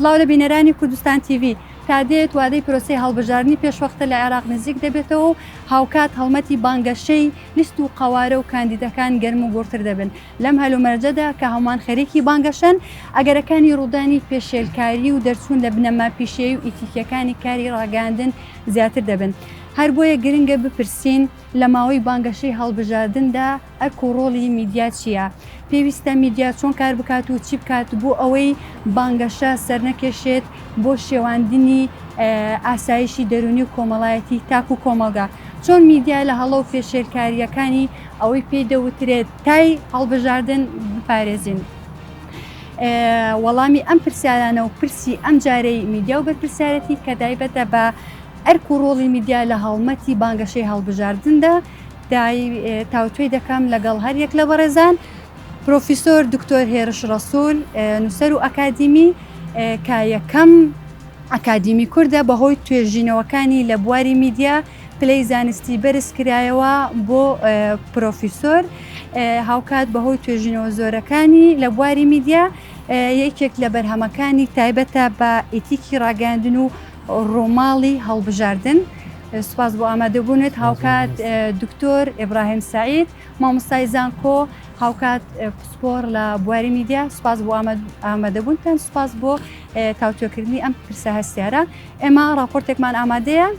سلااو لە بینەرانی کوردستان تیV تادێت وادەی پرۆسی هەڵبژارنی پێشوەختە لە عێراق نزیک دەبێتەوە و هاوکات هەڵمەتی بانگەشەی لیست و قوارە و کاندیدەکان گەرم و گوڕتر دەبن لەم هەلومەرجەدا کە هەمووان خەریکی بانگەشەن، ئەگەرەکانی ڕوودانی پێشێلکاری و دەرچوون لە بنەما پیشەیی و ئیتیکییەکانی کاری ڕاگەیاندن زیاتر دەبن. هەر بۆیە گرنگە بپرسین، لە ماوەی بانگەشەی هەڵبژاردندا ئەرک و ڕۆڵی میدیا چییە؟ پێویستە میدیا چۆن کار بکات و چی بکات بۆ ئەوەی بانگەشە سەرنەکێشێت بۆ شێواندنی ئاسایشی دەروونی و کۆمەڵایەتی تاک و کۆمەڵگا؟ چۆن میدیا لە هەڵە و پێشێلکارییەکانی ئەوەی پێی دەوترێت، تای هەڵبژاردن بپارێزین؟ وەڵامی ئەم پرسیارانە و پرسی ئەم جارەی میدیا و بەرپرسیارەتی کە دایبەتە بە ئەرک و ڕۆڵی میدیا لە هەڵمەتی بانگەشەی هەڵبژاردندا تاوتوێ دەکەم لەگەڵ هەر یەک لە بەڕێزان پرۆفیسۆر دکتۆر هێرش ڕسول نووسەر و ئەکادیمی کە یەکەم ئەکادیمی کوردە بەهۆی توێژینەوەکانی لە بواری میدیا پلەی زانستی بەرز کرایەوە بۆ پرۆفیسۆر هاوکات بەهۆی توێژینەوە زۆرەکانی لە بواری میدیا یەکێک لە بەرهەمەکانی تایبەتە بە ئیتیکی ڕاگەاندن و ڕۆماڵی هەڵبژاردن سوپاس بۆ ئامادەبوونێت هاوکات دکتۆر ئبراهیم سعید مامۆستای زانکۆ هاوکات پسپۆر لە بواری میدیا سوپاس بۆ ئامادەبوونتان سوپاس بۆ تاوتۆکردنی ئەم پرسە هەستیارە ئێمە ڕاپۆرتێکمان ئامادەیە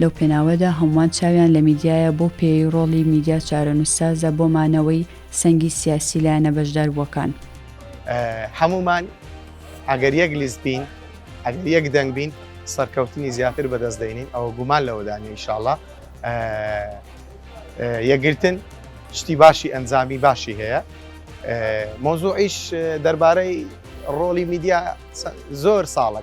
لەو پێناوەدا هەمووان چاویان لە میدیایە بەو پێیەی ڕۆڵی میدیا چارەنووسسازە بۆ مانەوەی سەنگی سیاسی لایەنە بەشداربووەکان. هەموومان ئەگەر یەک لیست بین، ئەگەر یەک دەنگ بین سەرکەوتنی زیاتر بەدەست دێنین، ئەوە گومان لەوەدا نییە ئیشاڵڵا یەکگرتن شتی باشی ئەنجامی باشی هەیە. مەوزووعیش دەربارەی ڕۆڵی میدیا زۆر ساڵە.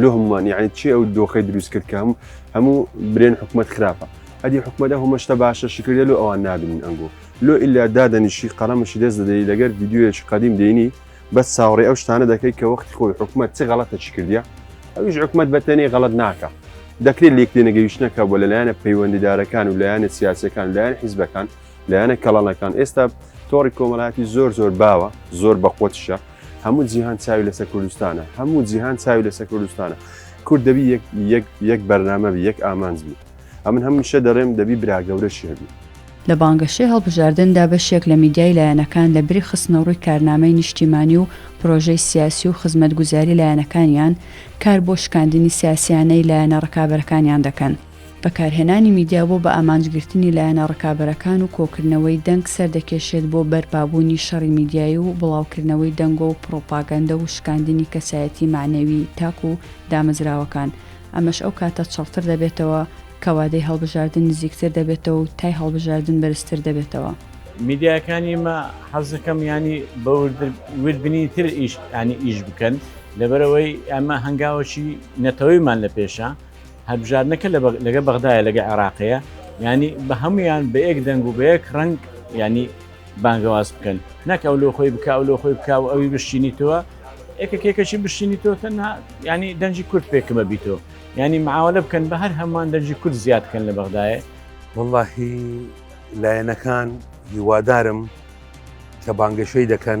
لۆ هەمومان یعنی چی ئەو دۆخی دروست کرد کە هەموو هەموو برێن حکوومەت خراپە هەدی حکوومەتە هەمەشتە باشە شکردە لۆ ئەوان نابین ئەنگۆ لۆ ئللا دادەنیشی قەڵەمەشی دەست دەدەی لەگەر یددیوەیەکی قدیم دێنی بەس ساوڕێ ئەو شتانە دەکەیت کە وەختی خۆی حکوومەت چ غەڵەتە چی کردە ئەویش حکوومەت بەتەنێ غەڵت ناکە دەکرێت لێک لێنەگەیشتنەکە بۆ لەلایەنە پەیوەندیدارەکان و لایەنە سیاسەکان لایەن حیزبەکان لایەنە کەڵانەکان ئێستا تۆڕی کۆمەڵاتی زۆر زۆر باوە زۆر بەقوتشە هەموو جیهان چاوی لەسەر کوردستانە هەموو جیهان چاوی لەسەر کوردستانە کورد دەبی یەک بەرنامە بی یەک ئامانج بی ئەمن هەمیشە دەڵێم دەبی براگەورەشی هەبی لە بانگەشەی هەڵبژاردندا بەشێک لە میدیای لایەنەکان لە بری خستنەڕووی کارنامەی نیشتیمانی و پرۆژەی سیاسی و خزمەتگوزاری لایەنەکانیان کار بۆ شکاندنی سیاسیانەی لایەنە ڕکابەرەکانیان دەکەن. بەکارهێنانی میدیا بۆ بە ئامانج گرتنی لایەنە ڕکابەرەکان و کۆکردنەوەی دەنگ سەردەکێشێت بۆ بەرپابوونی شەڕی میدیایی و بڵاوکردنەوەی دەنگۆ و پڕوپاگەندە و شکاندنی کەسایەتی مەعنەوی تاک و دامەزراوەکان ئەمەش ئەو کاتە چڕتر دەبێتەوە کە وادەی هەڵبژاردن نزیکتر دەبێتەوە و تای هەڵبژاردن بەرزتر دەبێتەوە. میدیاکانی مە حەزەکەم یانی بە وردبنی تر ئیش ینی ئیش بکەن لەبەرەوەی ئەمە هەنگاوەکی نەتەوەیمان لە پێشە، هەلبژاردنەکە لەگە بەغدایە لەگە عێراقەیە ینی بە هەمویان بە یەک دەنگ و بە یەک ڕنگ ینی بانگەواز بکەن نەک ئەو لۆ خۆی بکاو لۆ خۆی بکاو ئەوی بشتینی تۆوە ئێکەکێکەشی بشتینی تۆ تەنها ینی دەنجی کورد پێکمە بیتۆ ینی معاولە بکەن بە هەر هەمان دەنجی کورد زیاد بکەن لە بەغدایە واللهی لایەنەکان هیوادارم کە بانگەشەی دەکەن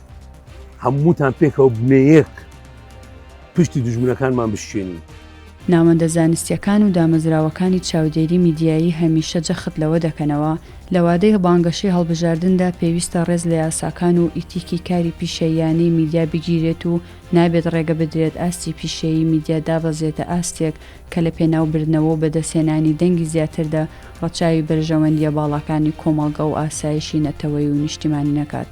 هەمووتان پێکەوە بنەیەک پشتی دژمنەکانمان بشێنین. ناوەندە زانستیەکان و دامەزراوەکانی چاودێری میدیایی هەمیشە جەخت لەوە دەکەنەوە، لە وادەی بانگەشەی هەڵبژاردندا پێویستە ڕێز لە یاساکان و ئیتیکی کاری پیشەییانەی میدیا بگیرێت و نابێت ڕێگە بدرێت ئاستی پیشەیی میدیا دابەزێتە ئاستێک کە لە پێناوبردنەوە و بەدەستهێنانی دەنگی زیاتردا ڕەچاوی بەرژەوەندییە باڵاکانی کۆمەڵگە و ئاسایشی نەتەوەیی و نیشتیمانی نەکات.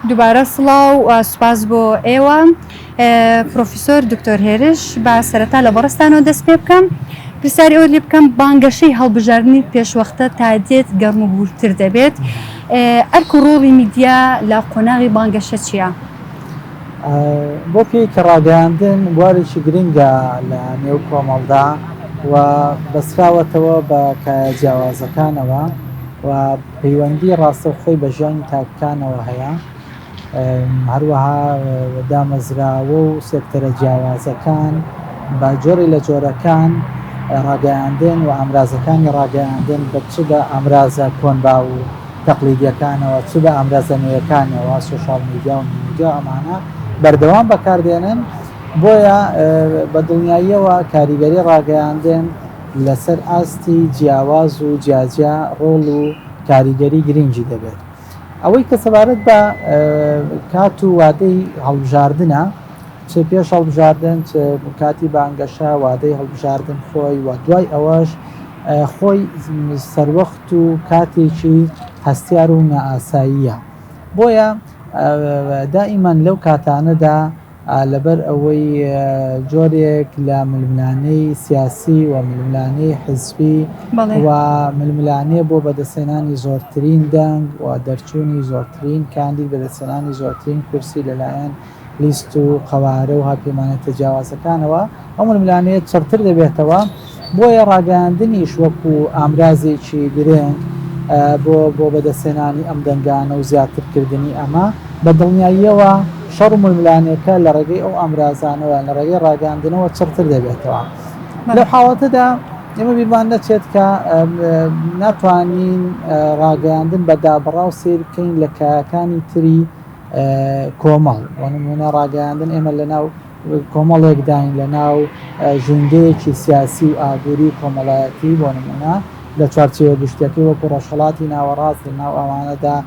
دووبارە سڵاو سوپاس بۆ ئێوە پرۆفیسۆر دکتۆر هێرش با سەرەتا لە بەڕستانەوە دەست پێ بکەم پرسیاری ئەو لێ بکەم بانگەشەی هەڵبژاردننی پێشوەختە تا دێت گەرم و بورتر دەبێت ئەرک و ڕۆڵی میدیا لە قۆناغی بانگەشە چییە؟ بۆ پێی کە ڕاگەیاندن بوارێکی گرنگە لە نێو کۆمەڵدا و بەستراوەتەوە بە کایە جیاوازەکانەوە و پەیوەندی ڕاستەوخۆی بە ژیانی تاکەکانەوە هەیە هەروەها دامەزراوە و سێکتەرە جیاوازەکان بە جۆری لە جۆرەکان ڕاگەیاندن و ئامرازەکانی ڕاگەیاندن بە چدا ئامرازە کۆنبا و تەقلیدیەکانەوە چ بە ئامرازە نوێیەکانیەوە سۆشیال میدیا و میدیا ئەمانە بەردەوام بەکاردێنن بۆیە بە دڵنیاییەوە کاریگەری ڕاگەیاندن لەسەر ئاستی جیاواز و جیاجیا ڕۆڵ و کاریگەری گرنگی دەبێت ئەوەی کە سەبارەت بە کات و وادەی هەڵبژاردنە چ پێش هەڵبژاردن چ کاتی بانگەشە وادەی هەڵبژاردن خۆی و دوای ئەوەش خۆی سەروەخت و کاتێکی هەستیار و نائاساییە بۆیە دائیمان لەو کاتانەدا لەبەر ئەوەی جۆرێک لە ململانێی سیاسی و ململانێی حزبی و ململانێ بۆ بەدەستێنانی زۆرترین دەنگ و دەرچوونی زۆرترین کاندید بەدەستێنانی زۆرترین کورسی لەلایەن لیست و قەوارە و هاوپەیمانە تەجاوازەکانەوە، ئەو ململانێیە چڕتر دەبێتەوە، بۆیە ڕاگەیاندنیش وەکو ئامرازێکی گرنگ بۆ بۆ بەدەستهێنانی ئەم دەنگانە و زیاترکردنی ئەمە، بە دڵنیاییەوە شەڕ و ململانێکە لە ڕێگەی ئەو ئامرازانەوە، لە ڕێگەی ڕاگەیاندنەوە چڕتر دەبێتەوە. لەو حاڵەتەدا ئێمە بیرمان نەچێت کە ناتوانین ڕاگەیاندن بە دابڕاو سەیر بکەین لە کایەکانی تری کۆمەڵ بۆ نمونە ڕاگەیاندن ئێمە لە ناو کۆمەڵێکداین لە ناو ژونگەیەکی سیاسی و ئابووری و کۆمەڵایەتی بۆ نمونە لە چوارچەوە گشتەکەی وەکو ڕۆژهڵاتی ناوەڕاست لە ناو ئەوانەدا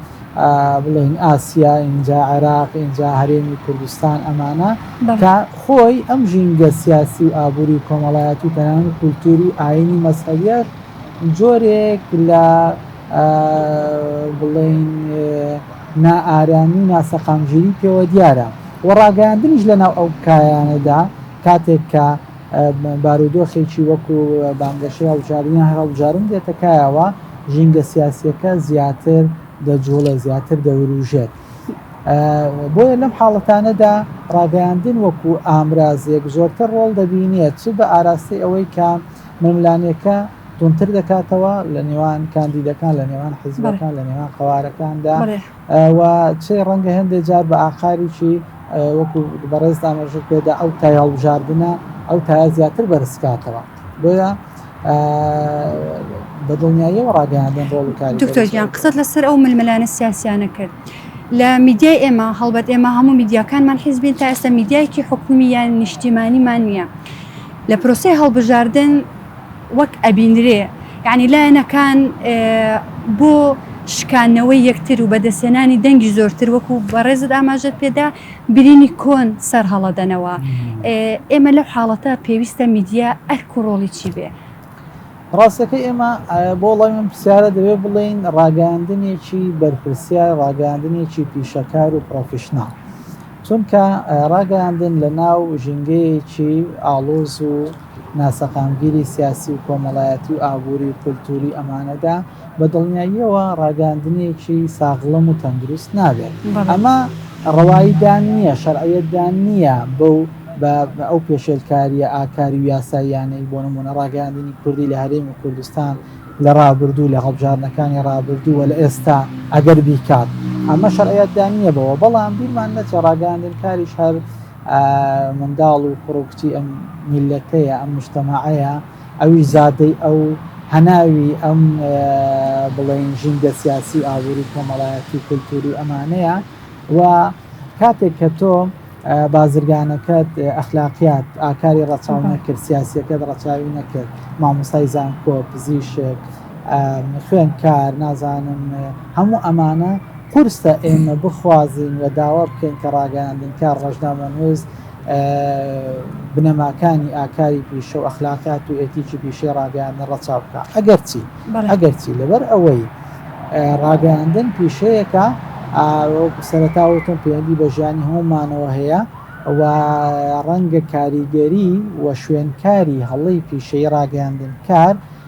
بڵێن ئاسیا ئینجا عێراق ئینجا هەرێمی کوردستان ئەمانە کە خۆی ئەم ژینگە سیاسی و ئابووری و کۆمەڵایەتی و تەنان کولتوری ئاینی مەسەویەت جۆرێک لە بڵێین نائارامی و ناسەقامگیری پێوە دیارە و ڕاگەیاندنیش لەناو ئەو کایانەدا کاتێک کە بارودۆخێکی وەکو بانگەشەی هەڵبژاردنیان هەر هەڵبژارن دێتە کایەوە ژینگە سیاسیەکە زیاتر دەجوڵێ زیاتر دەوروژێت بۆیە لەم حاڵەتانەدا ڕاگەیاندن وەکو ئامرازێک زۆرتر ڕۆڵ دەبینێت چ بە ئاراستەی ئەوەی کە مەملانێکە توندتر دەکاتەوە لە نێوان کاندیدەکان لە نێوان حزبەکان لە نێوان قوارەکاندا و چێ ڕەنگە هەندێک جار بە ئاقاریی وەکو بەڕێز دامەژر پێدا ئەو تا هەڵبژاردنە ئەو تا زیاتر بەرزکاتەوە بۆیە بە دڵنیاییەوە ڕاگەیاندن ڕۆڵکاری دکتۆریان قسەت لەسەر ئەو ململانە سیاسیانە کرد. لە میدیای ئێمە هەڵبەت ئێمە هەموو میدیاکانمان حیزبین تا ئێستا میدیایکی حکومی یان نیشتیمانیمان نییە لە پرۆسی هەڵبژاردن وەک ئەبینرێ یەعنی لایەنەکان بۆ شکانەوەی یەکتر و بەدەستهێنانی دەنگی زۆرتر وەکو بەڕێزت ئاماژەت پێدا برینی کۆن سەر هەڵەدەنەوە ئێمە لەو حاڵەتە پێویستە میدیا ئەرک و ڕۆڵی چی بێ؟ ڕاستەکەی ئێمە بۆ وڵامی ئەم پرسیارە دەبێ بڵێین ڕاگەیاندنێکی بەرپرسیار ڕاگەیاندنێکی پیشەکار و پرۆفیشناڵ چونکە ڕاگەیاندن لە ناو ژینگەیەکی ئاڵۆز و ناسەقامگیری سیاسی و کۆمەڵایەتی و ئابووری و کولتووری ئەمانەدا، بە دڵنیاییەوە ڕاگەیاندنێکی ساغڵەم و تەندروست نابێت. ئەمە ڕەواییدان نییە، شەرعیەتدان نییە بەو بە ئەو پێشێلکارییە ئاکاری و یاساییانەی بۆ نموونە ڕاگەیاندنی کوردی لە هەرێمی کوردستان لە ڕابردوو، لە هەڵبژاردنەکانی ڕابردوو و لە ئێستا ئەگەر بیکات. ئەمە شەرعیەتدان نییە بەوە. بەڵام بیرمان نەچێ ڕاگەیاندنکاریش هەر. منداڵ و کوڕ و کچی ئەم میللەتەیە، ئەم موجتەمەعەیە، ئەویش زادەی ئەو، هەناوی ئەم بڵێین ژینگە سیاسی، ئابووری، کۆمەڵایەتی، کولتووری ئەمانەیە و کاتێک کە تۆ بازرگانەکەت ئەخلاقیات ئاکاری ڕەچاو نەکرد، سیاسییەکەت ڕەچاوی نەکرد، مامۆستای زانکۆ، پزیشک، خوێندکار، نازانم هەموو ئەمانە قورسە ئێمە بخوازین و داوا بکەین کە ڕاگەیاندنکار، ڕۆژنامەنووس، بنەماکانی ئاکاری پیشە و ئەخلاقیات و ئێتیکی پیشەی ڕاگەیاندن ڕەچاو بکات. ئەگەرچی ئەگەرچی لەبەر ئەوەی ڕاگەیاندن پیشەیەکە وەکو سەرەتا وتم پەیوەندی بە ژیانی هەموومانەوە هەیە و ڕەنگە کاریگەری و شوێنکاری هەڵەی پیشەی ڕاگەیاندنکار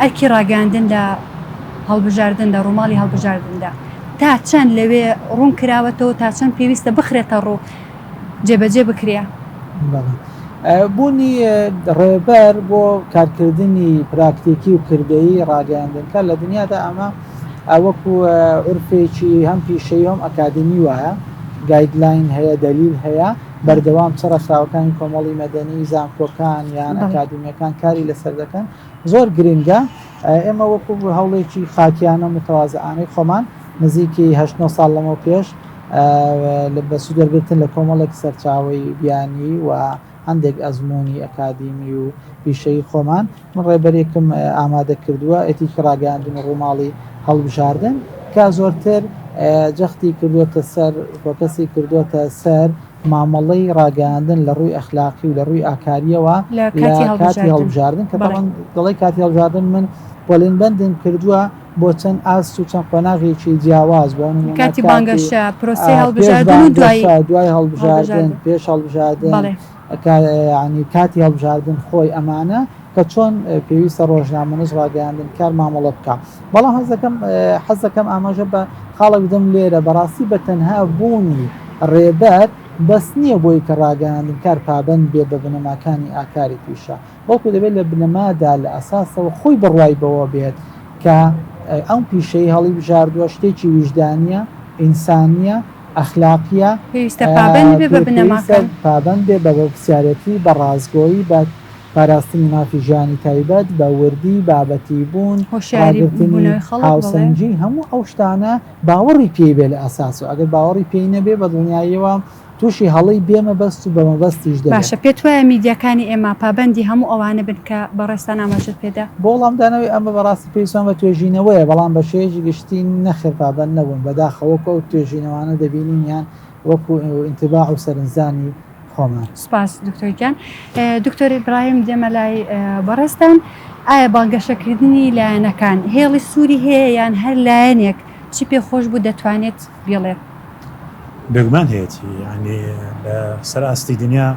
ئەرکی ڕاگەیاندن لە هەڵبژاردن لە ڕووماڵی هەڵبژاردندا تا چەند لەوێ ڕوون کراوەتەوە تا چەند پێویستە بخرێتە ڕوو جێبەجێ بکرێ بوونی ڕێبەر بۆ کارکردنی پراکتێکی و کردەی ڕاگەیاندنکە لە دنیادا ئەمە ئەوەکو عرفێکی هەم پیشەی هەم ئەکادمی وایە گایدلاین هەیە دەلیل هەیە بەردەوام چ ڕێکخراوەکانی کۆمەڵی مەدەنی، زانکۆکان یان ئەکادیمیەکان کاری لەسەر دەکەن زۆر گرینگە. ئێمە وەکو هەوڵێکی خاکیانە و متەوازەئانەی خۆمان نزیکی هەشت نۆ ساڵ لەمەو پێش لە بە سوود وەرگرتن لە کۆمەڵێک سەرچاوەی بیانی و هەندێک ئەزموونی ئەکادیمی و پیشەیی خۆمان، من ڕێبەرێکم ئامادە کردووە ئەتیکی ڕاگەیاندن و ڕووماڵی هەڵبژاردن کە زۆرتر جەختی کردووەتە سەر فۆکەسی کردووەتە سەر مامەڵەی ڕاگەیاندن لە ڕووی ئەخلاقی و لە ڕووی ئاکاریەوە لە کاتی هەڵبژاردن کە بەڵام دڵی کاتی هەڵبژاردن من پۆلین بەندم کردووە بۆ چەند ئاست و چەند قۆناغێکی جیاواز بۆ کاتی بانگەشە پرۆسی هەڵبژاردن دوای دوای هەڵبژاردن پێش هەڵبژاردن ئەکات یانی کاتی هەڵبژاردن خۆی ئەمانە کە چۆن پێویستە ڕۆژنامەنووس ڕاگەیاندن کار مامەڵە بکا بەڵام هەزەکەم حەزەکەم ئاماژە بە خاڵک بدەم لێرە بەڕاستی بە تەنها بوونی ڕێبەر بەس نییە بۆی کە ڕاگەیاندن کار پابەند بێ بە بنەماکانی ئاکاری پیشە بەڵکو دەبێت لە بنەمادا، لە ئەساسەوە خۆی بڕوای بەوە بێت کە ئەم پیشەی هەڵیبژاردووە شتێکی ویژدانییە، ئینسانییە، ئەخلاقییە، پێویستە پابەند بێت بە بنەماکان. پێویستە پابەند بێت بە بەرپرسیارێتی، بە ڕاستگۆیی، بە پاراستنی مافی ژیانی تایبەت، بە وردی، بابەتیبوون، ڕاگرتنی، هاوسەنگی، هەموو ئەو شتانە باوەڕی پێی بێت لە ئەساسەوە، ئەگەر باوەڕی پێی نەبێت بە دڵنیاییەوە تووشی هەڵەی بێ مەبەست و بە مەبەستیش دەبێت. باشە پێت وایە میدیاکانی ئێمە پابەندی هەموو ئەوانە بن کە بەڕێزتان ئاماژەت پێ دا؟ بۆ وڵامدانەوەی ئەمە بەڕاستی پێویستمان بە توێژینەوەیە، بەڵام بە شێوەیەکی گشتی نەخێر پابەند نەبوون، بەداخەوە وەکو ئەو توێژینەوانە دەبینین یان وەکو ئینتباع و سەرنجدانی خۆمان. سپاس دکتۆر گیان. دکتۆر ئیبراهیم دێمە لای بەڕێزتان، ئایا بانگەشەکردنی لایەنەکان هێڵی سووری هەیە یان هەر لایەنێک چی پێ خۆش بوو دەتوانێت بیڵێت؟ بێگومان هەیەتی یانی لە سەر ئاستی دنیا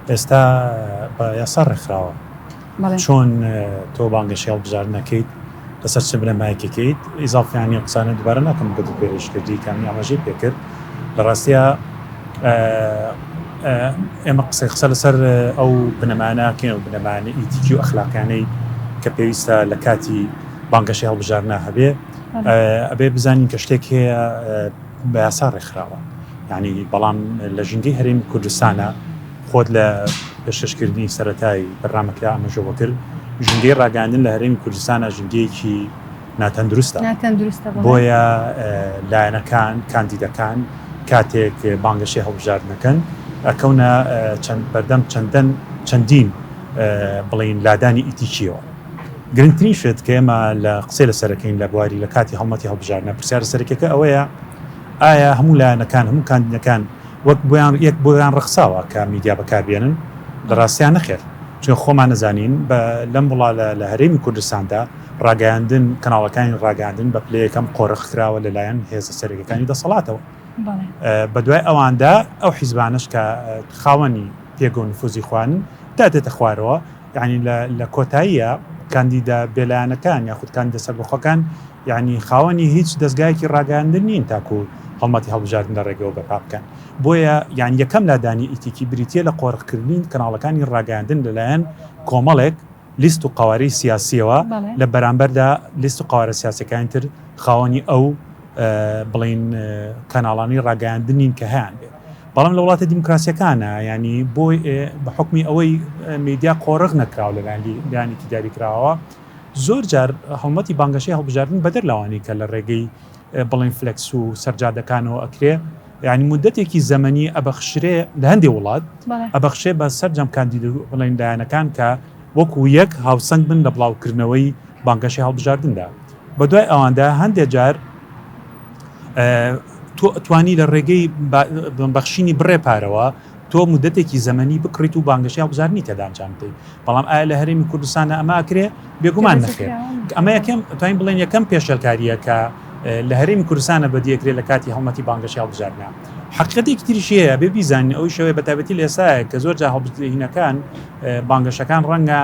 ئێستا بە یاسا ڕێکخراوە چۆن تۆ بانگەشی هەڵبژاردنەکەیت لەسەر چ بنەمایەکەکەیت ئیزافیانی قسانە دوبارە ناکەم گوت پێرش کردی کامی ئاماژەی پێکرد لە ڕاستە ئێمە قسەی قسە لەسەر ئەو بنەماناکەین و بنەمانە ئیتیکی و ئەخلاقیانەی کە پێویستە لە کاتی بانگەشی هەڵبژارنا هەبێ ئەبێ بزانین کە شتێک هەیە بە یاسا ڕێکخراوە یعنی بەڵام لە ژینگەی هەرێمی کوردستانە خۆت لە پێشکەشکردنی سەتای بەرنمەکە ئامەژەوە کرد ژینگەی ڕاگەاندن لە هەرێمی کوردستانە ژینگەیەکی ناتەندروستە ناتەندروستە بۆیە لایەنەکان کاندیدەکان کاتێک بانگەشەی هەڵبژاردنەکەن ئەکەونە چەند بەردەم چەندەن چەندین بڵین لادانی ئیتیکیەوە گرنگترین شت کە ئێمە لە قسەی لەسەر دەکەین لە بواری لە کاتی هەڵمەتی هەڵبژاردنە پرسیارە سەرەکیەکە ئەوەیە ئایا هەموو لایەنەکان هەموو کاندیدەکان وەک بۆیان یەک بۆیان ڕخساوە کە میدیا بەکاربێنن لە ڕاستیان نەخێر چون خۆمان نەزانین بە لەم وڵا لە هەرێمی کوردستاندا ڕاگەیاندن کەناڵەکانی ڕاگەاندن بە پلەیەکەم قۆرخ کراوە لەلایەن هێزە سەرەکەەکانی دەسەڵاتەوە بە دوای ئەواندا ئەو حیزبانش کە خاوەنی پێگە و نفوزی خوان دادێتە خوارەوە یەعنی لە کۆتاییا کاندیدە بێلایەنەکان یاخود کاندیدە سەربەخۆکان یەعنی خاوەنی هیچ دەزگایەکی ڕاگەیاندن نین تاکو هەڵمەتی هەڵبژاردن لە ڕێگەوە بەرپا بکەن بۆیە یان یەکەم لادانی ئیتیکی بریتیە لە قۆرخکردنی کەناڵەکانی ڕاگەیاندن لەلایەن کۆمەڵێک لیست و قوارەی سیاسیەوە لە بەرامبەردا لیست و قوارە سیاسەکانی تر خاوەنی ئەو بڵین کەناڵانی ڕاگەیاندنین کە هەیان بێت بەڵام لە وڵاتە دیموکراسیەکانە یانی بۆ بە حکمی ئەوەی میدیا قۆرغ نەکراوە لەلایەن لایەنێکی داریکراوە زۆر جار هەڵمەتی بانگەشەی هەڵبژاردن بەدەر لەوانی کە لە ڕێگەی بڵین فلکس و سەرجادەکانەوە ئەکرێ یعنی مدەتێکی زەمەنی ئەبەخشرێ لە هەندێ وڵات ئەبەخشێ بە سەررجەم کاندید و بڵێن لایەنەکان کە وەکو یەک هاوسەنگ بن لە بڵاوکردنەوەی بانگەشی هەڵبژاردندا بەدوای ئەواندا هەندێ جار تۆ ئەتوانی لە ڕێگەی بەخشینی بڕێ پارەوە تۆ مدەتێکی زەمەنی بکڕیت و بانگەشی هەڵبزارنی تێدانجام بدەیت بەڵام ئایا لە هەرێمی کوردستانە ئەماکرێ بێگومان نەخێت ئەمە یەکەم توانین بڵێن یەکەم پێشەلکاریەکە لە هەرێمی کوردستانە بەدیەکرێت لە کاتی هەڵمەتی بانگەشی هەڵبزارنا حقیقەتێکی تریشەیە بێ بیزانین ئەوی شەوەیە بەتابەتی لە ئێستا کە زۆر جا هەڵبهینەکان بانگەشەکان ڕەنگە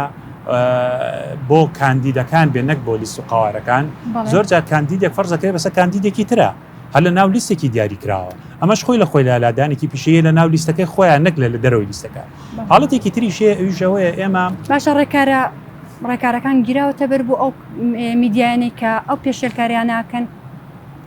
بۆ کاندیدەکان بێ نەک بۆ لیست و قوارەکان زۆر جار کاندیدێک فەرزەکەی بەسە کاندیدێکی ترە هەر لە ناو لیستێکی دیاری کراوە ئەمەش خۆی لە خۆی لالادانێکی پیشەیە لە ناو لیستەکەی خۆیان نەک لە لە دەرەوەی لیستەکە حاڵەتێکی تریشێ ئەویشەوەیە ئێمە باشە ڕێکارە ڕێکارەکان گیراوەتە بەر بۆ ئەو میدیانەی کە ئەو پێشێلکاریانناکەن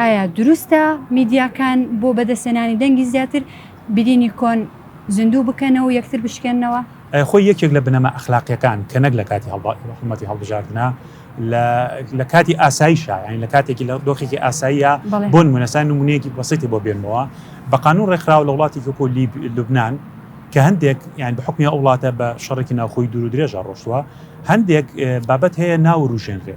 ئایا دروستە میدیاکان بۆ بەدەستهێنانی دەنگی زیاتر، برینی کۆن زیندوو بکەنەوە و یەکتر بشکێننەوە؟ ئەە خۆی یەکێک لە بنەما ئەخلاقیەکان کە نەک لە کاتی هەڵمەتی هەڵبژاردنە لە کاتی ئاسایشە یانی لە کاتێکی لە دۆخێکی ئاساییە بۆن منەسان نمونەیەکی بەسیتی بۆ بێنمەوە بە قانون ڕێکخراوە لە وڵاتی کۆ لوبناان کە هەندێک یان بە حکمی ئەو وڵاتە بە شەڕێکی ناوخۆی دوور و درێژە ڕۆشتووە هەندێک بابەت هەیە ناوروژێنرێ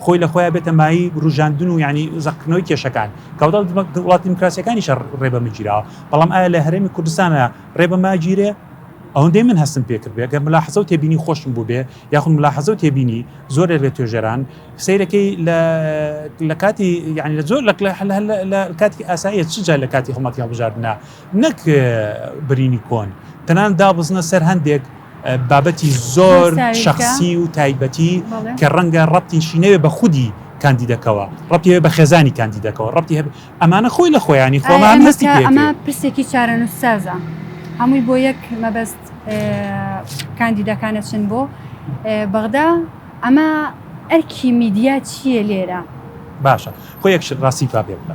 خۆی لە خۆیا بێتە مایەی وروژاندن و یانی زەقکردنەوەی کێشەکان، کەواتە وڵاتە دیموکراسیەکانیشە ڕێ بەمە گیراوە، بەڵام ئایا لە هەرێمی کوردستانا ڕێ بەمە ئەگیرێ؟ ئەوەندەی من هەستم پێ کردبێ، گەر مولاحەزەو تێبینی خۆشم بووبێ، یاخود مولاحەزەو تێبینی زۆرێ لە توێژەران، سەیرەکەی لە لە کاتی یانی لە زۆر لە کاتێکی ئاساییە چ جا لە کاتی هەڵمەتی هەڵبژاردنا، نەک برینی کۆن، تەنانەت دابەزنە سەر هەندێک بابەتی زۆر شخصی و تایبەتی کە ڕەنگە ڕەتیشی نەوێ بە خودی کاندیدەکەەوە ڕەتێ بە خێزانی کاندیدەکەەوە ڕەتی هەب ئەمانە خۆی لە خۆیانی خۆمان هەستی ئەمە پرسێکی چارەنووسازە هەمووی بۆ یەک مەبەست کاندیدەکانە چن بۆ بەغدا ئەمە ئەرکی میدیا چییە لێرە باشە خۆ یەکش ڕاستی پاپێ بکە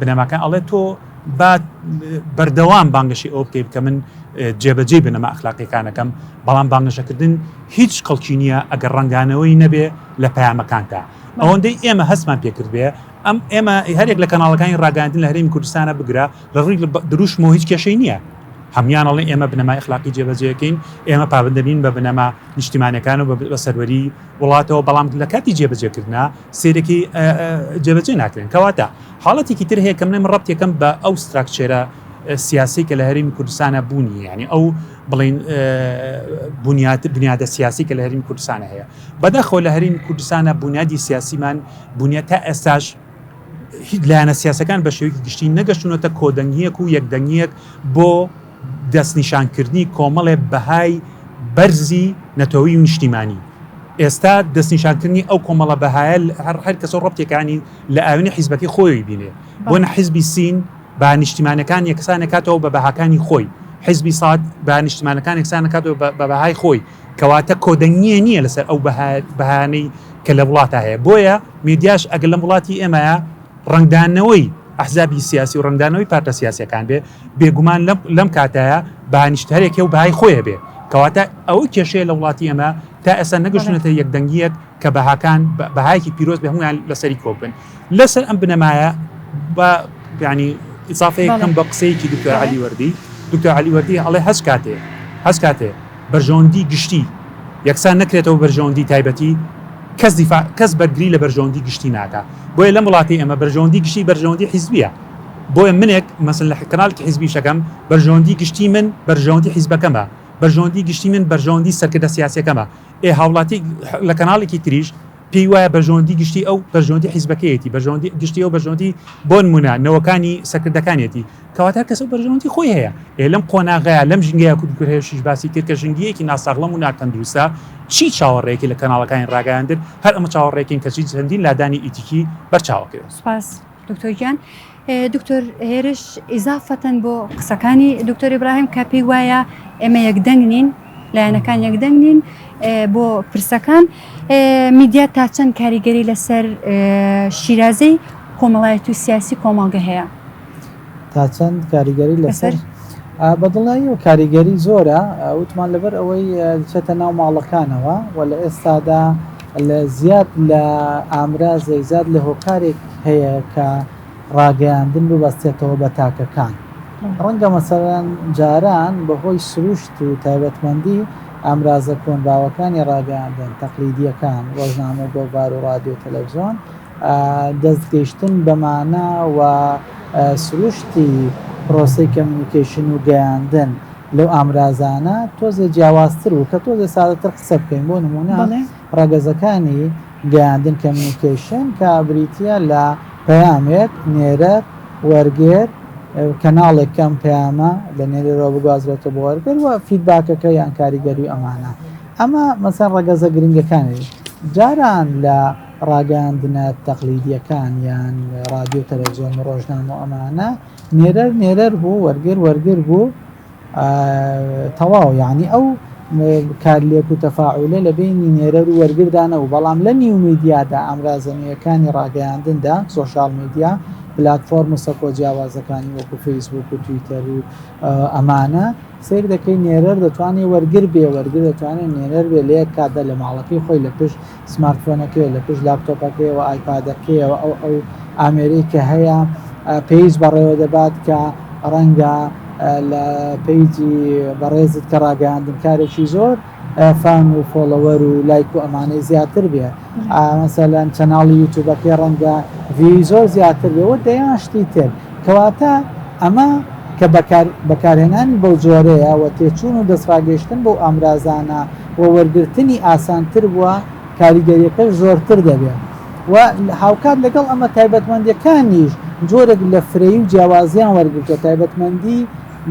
بنەماکە ئەڵێ تۆ با بەردەوام بانگەشی ئەو بکەیت کە من جێبەجێی بنەما ئەخلاقیەکانەکەم بەڵام بانگەشەکردن هیچ کەڵکی نییە ئەگەر ڕنگانەوەی نەبێ لە پامەکانتا ئەوەندەی ئێمە هەستمان پێکردێ ئەم ئێمە هەرێک لە کەناڵەکانی ڕاگەاندن لە هەرمی کوردستانە بگرە لە ڕووی دروشمەوە هیچ کێشەی نییە هەمویانەڵێ ئێمە بنەما اخلاقی جێبەجێکەین ئێمە پابندەبین بە بنەما نیشتیمانەکان و بە سەروەری وڵاتەوە بەڵام لە کاتی جێبەجێکردە سەیرێکی جێبەجێ ناکرێن کەواتە حاڵەتێکی تر هەیە کەم نەم ڕەبتێکم بە ئەو ستراکچێرە سیاسی کە لە هەرمی کوردستانە بوونی ینی ئەو بڵین بنیات بنیادە سیاسی کە لە هەرمی کوردستانە هەیە بەدەخۆ لە هەرمی کوردستانە بنیادی سیاسیمان بنیات تا ئێستاش هیچ لایەنە سیاسەکان بە شێوەیەکی گشتی نەگەشتونەتە کۆدەنگیەک و یەکدەنگیەک بۆ دەستنیشانکردنی کۆمەڵێ بەهای بەرزی نەتەوەیی و نیشتیمانی. ئێستا دەستنیشانکردنی ئەو کۆمەڵە بەهایە هەر هەر کەسە ڕەبتێکانی لە ئاوێنەی حیزبەکەی خۆیەوەی بینێ. بۆنە بەڵێ. حیزبی سین بەها نیشتیمانەکان یەکسان ئەکاتەوە بە بەهاکانی خۆی، حیزبی ساد بەها نیشتیمانەکان یەکسان ئەکاتەوە بە بە بەهای خۆی. کەواتە کۆدەنگییە نییە لەسەر ئەو بەها بەهایانەی کە لە وڵاتا هەیە. بۆیە میدیاش ئەگەر لەم وڵاتی ئێمەیا، ڕەنگدانەوەی ئەحزابی سیاسی و ڕەنگدانەوەی پارتە سیاسیەکان بێ، بێگومان لەم کاتایە بەهای نیشت هەر یەکێ و بەهای خۆی هەبێ، کەواتە ئەوە کێشەیە لە وڵاتی ئێمە تا ئێستا نەگەشتوونەتە یەک دەنگیەک کە بەهاکان بەهایەکی پیرۆز بێ هەموویان لەسەری کۆک بن لە سەر ئەم بنەمایە با یانی ئیزافەیەکەم بە قسەیەکی دکتۆر علی وەردی دکتۆر علی وەردی ئەڵێ هەست کاتێ هەست کاتێ بەرژەوەندی گشتی یەکسان نەکرێتەوە بە بەرژەوەندی تایبەتی، کەس دیفاع، کەس بەرگری لە بەرژەوەندی گشتی ناکا. بۆیە لەم وڵاتەی ئێمە بەرژەوەندی گشتی بەرژەوەندی حیزبییە. بۆیە منێک مەسەن لە کەناڵێکی حیزبی ئیش ئەکەم، بەرژەوەندی گشتی من بەرژەوەندی حیزبەکەمە، بەرژەوەندی گشتی من بەرژەوەندی سەرکردە سیاسییەکەمە. ئێ هاوڵاتییەک لە کەناڵێکی تریش پێی وایە بەرژەوەندی گشتی ئەو بەرژەوەندی حیزبەکەیەتی، بەرژەوەندی گشتی ئەو بەرژەوەندی بۆنمونە نەوەکانی سەرکردەکانیەتی، کەواتە هەر کەس ئەو بەرژەوەندی خۆی هەیە. ئێ لەم قۆناغەیا لەم ژینگەیا کورد گورهێشیش باسی کرد کە ژنگیەکی ناساغڵەم و ناتەندروستە، چی چاوەڕێیەکی لە کەناڵەکانی ڕاگەیاندن، هەر ئەمە چاوەڕێکین کەچی چەندین لادانی ئیتیکی بەرچاوەکەوێت. سوپاس. دکتۆر گیان دکتۆر هێرش ئیزافەتەن بۆ قسەکانی دکتۆر ئیبراهیم کە پێی وایە ئێمە یەکدەنگ نین لایەنەکان یەکدەنگ نین بۆ پرسەکان میدیا تا چەند کاریگەری لەسەر شیرازەی کۆمەڵایەت و سیاسی کۆمەڵگە هەیە تا چەند کاریگەری لەسەر؟ بە دڵنیاییەوە کاریگەری زۆرە، وتمان لەبەر ئەوەی دەچێتە ناو ماڵەکانەوە و لە ئێستادا لە زیاد لە ئامرازێک زیاد لە هۆکارێک هەیە کە ڕاگەیاندن ببەستێتەوە بە تاکەکان. ڕەنگە مەسەلەن جاران بەهۆی سروشت و تایبەتمەندی ئامرازە کۆنباوەکانی ڕاگەیاندن تەقلیدییەکان، ڕۆژنامە و گۆڤار و ڕادیۆ و تەلەڤزیۆن، دەستگەیشتن بە مانا و سروشتی پرۆسەی کەمیونیکەیشن و گەیاندن لەو ئامرازانە تۆزێ جیاوازتر بوو کە تۆزێ سادەتر قسە بکەین بۆ نموونە ڕەگەزەکانی گەیاندن کەمیونیکەیشن کە بریتیە لە پەیامێک، نێرەر، وەرگێر، کەناڵێک کە ئەم پەیامە لە نێرەرەوە بگوازرێتەوە بۆ وەرگێر و فیدباکەکە یان کاریگەری ئەمانە ئەمە مەسەن ڕەگەزە گرنگەکانی جاران لە ڕاگەیاندنە تەقلیدییەکان یان ڕادیۆ تەلەڤزیۆن و ڕۆژنامە و ئەمانە نێرەر نێرەر بوو وەرگر وەرگر بوو تەواو یعنی ئەو کار لێک و تەفاعولە لە بینی نێرەر و وەرگردا نەبوو بەڵام لە نیو میدیادا ئامرازە نوێیەکانی ڕاگەیاندندا سۆشال میدیا پلتفۆرم و سەکۆ جیاوازەکانی وەکو فەیسبوک و تویتەر و ئەمانە سیر دەکەی نێرەر دەتوانێت وەرگر بێ وەرگر دەتوانێت نێرەر بێ لە یەک کاتدا لە ماڵەکەی خۆی لە پشت سمارتفۆنەکەی لە پشت لاپتۆپەکەی و ئایپادەکەیەوە ئەو ئەو ئامێرەی کە هەیە پەیج بەڕێوە دەبات کە ڕەنگە لە پەیجی بەڕێزت کە ڕاگەیاندنکارێکی زۆر فان و فۆڵەوەر و لایک و ئەمانەی زیاتر بێ مەسەلەن چەناڵی یوتوبەکەی ڕەنگە ڤیوی زۆر زیاتر بێ و دەیان شتی تر کەواتە ئەمە کە بەکار بەکارهێنانی بەو جۆرەیە و تێچوون و دەستڕاگەیشتن بەو ئامرازانە و وەرگرتنی ئاسانتر بووە، کاریگەرییەکەش زۆرتر دەبێت و هاوکات لەگەڵ ئەمە تایبەتمەندییەکانیش جۆرێک لە فرەیی و جیاوازییان وەرگرتووە، تایبەتمەندیی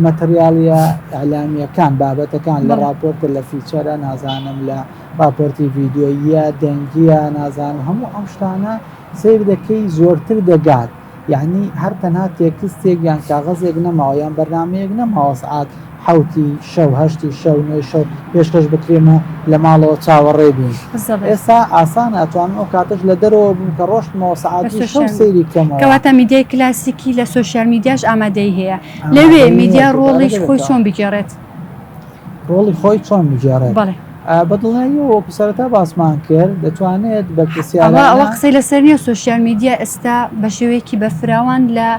ماتریالییە ئیعلامییەکان، بابەتەکان، لە ڕاپۆرتە، لە فیچەرە، نازانم لە ڕاپۆرتی ڤیدیۆییە، دەنگییە، نازانم هەموو ئەم شتانە سەیر دەکەی زۆرتر دەگات. یەعنی هەر تەنها تێکستێک یان کاغەزێک نەماوە یان بەرنامەیەک نەماوە سەعات حەوتی شەو هەشتی شەو نۆی شەو پێشکەش بکرێنە لە ماڵەوە چاوەڕێ بین ئێستا ئاسان ئەتوانم ئەو کاتەش لە دەرەوە بووم کە ڕۆشتمەوە سەعاتی شەو سەیری کەمەوە کەواتە میدیای کلاسیکی لە سوسیال میدیاش ئامادەی هەیە لەوێ میدیا ڕۆڵیش خۆی چۆن بگێڕێت ڕۆڵی خۆی چۆن بگێڕێت بەدڵنیاییەوە وەکو سەرەتا باسمان کرد دەتوانێت بە پرسیارەوە قسەی لەسەر نیە سوسیال میدیا ئێستا بە شێوەیەکی بەرفراوان لە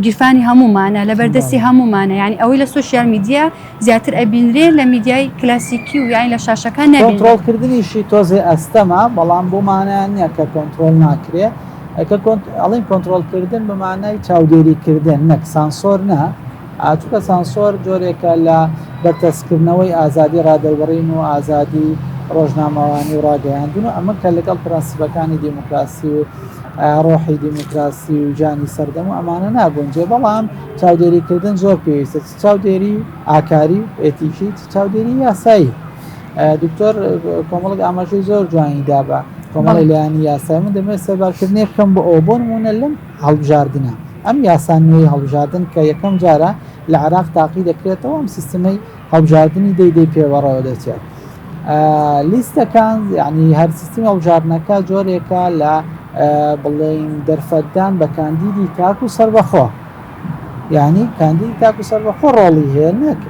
گیرفانی هەمومانە لە بەردەستی هەمومانە یعنی ئەوەی لە سوسیال میدیا زیاتر ئەبینرێ لە میدیای کلاسیکی و یاین لە شاشەکان نەبیڕۆڵکردنیشی تۆزێ ئەستەما بەڵام بۆمانە نییە کە کۆنتترۆل ناکرێ ئەڵین کۆنتترۆلکردن بەمانای چاودێریکردن نەک سانسۆر نە چونکە سانسۆر جۆرێکە لە بەرتەسککردنەوەی ئازادی ڕادەربڕین و ئازادی ڕۆژنامەوانی و ڕاگەیاندن و ئەمە کە لەگەڵ پرەنسیپەکانی دیموکراسی و ڕۆحی دیموکراسی و ژانی سەردەم و ئەمانە ناگونجێ بەڵام چاودێریکردن زۆر پێویستە چاودێری ئاکاری ئێتیکی چاودێری یاسایی دکتۆر کۆمەڵک ئاماژەی زۆر جوانی دابە کۆمەڵی لایەنی یاسای من دەمێت سەربارکردنی بکەم بۆ ئەو بۆ نمونە لەم هەڵبژاردنە. ئەم یاسا نوێی هەڵبژاردن کە یەکەم جارە لە عێراق تاقی دەکرێتەوە، ئەم سیستمەی هەڵبژاردنی دەی دەی پێ بەڕێوە دەچێت. لیستەکان یعنی هەر سیستمی هەڵبژاردنەکە جۆرێکە لە بڵێین دەرفەتدان بە کاندیدی تاک و سەربەخۆ یعنی کاندیدی تاک و سەربەخۆ ڕۆڵی هەیە نەک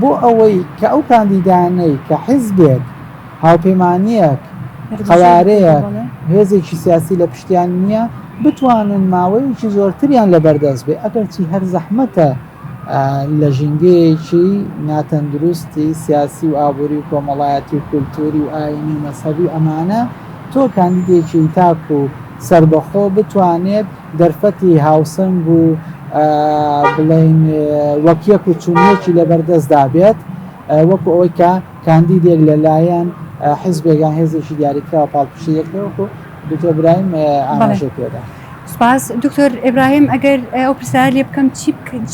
بۆ ئەوەی کە ئەو کاندیدانەی کە حیزبێک، هاوپەیمانییەک، قەوارەیەک، هێزێکی سیاسی لە پشتیان نییە، بتوانن ماوەیەکی زۆرتریان لە بەردەست بێ، ئەگەرچی هەر زەحمەتە لە ژینگەیەکی ناتەندروستی سیاسی و ئابووری و کۆمەڵایەتی و کولتووری و ئایینی و مەزهەبی و ئەمانە تۆ کاندیدێکی تاک و سەربەخۆ بتوانێت دەرفەتی هاوسەنگ و بڵێین وەک یەک و چونیەکی لەبەردەستدا بێت وەکو ئەوەی کە کاندیدێک لەلایەن حزبێکیان هێزێکی دیاریکراوە پاڵپشتی یەکەوەکو دکتۆر برایم ئاماژە پێدا. سپاس دکتۆر ئبراهیم ئەگەر ئەو پرسیار لێ بکەم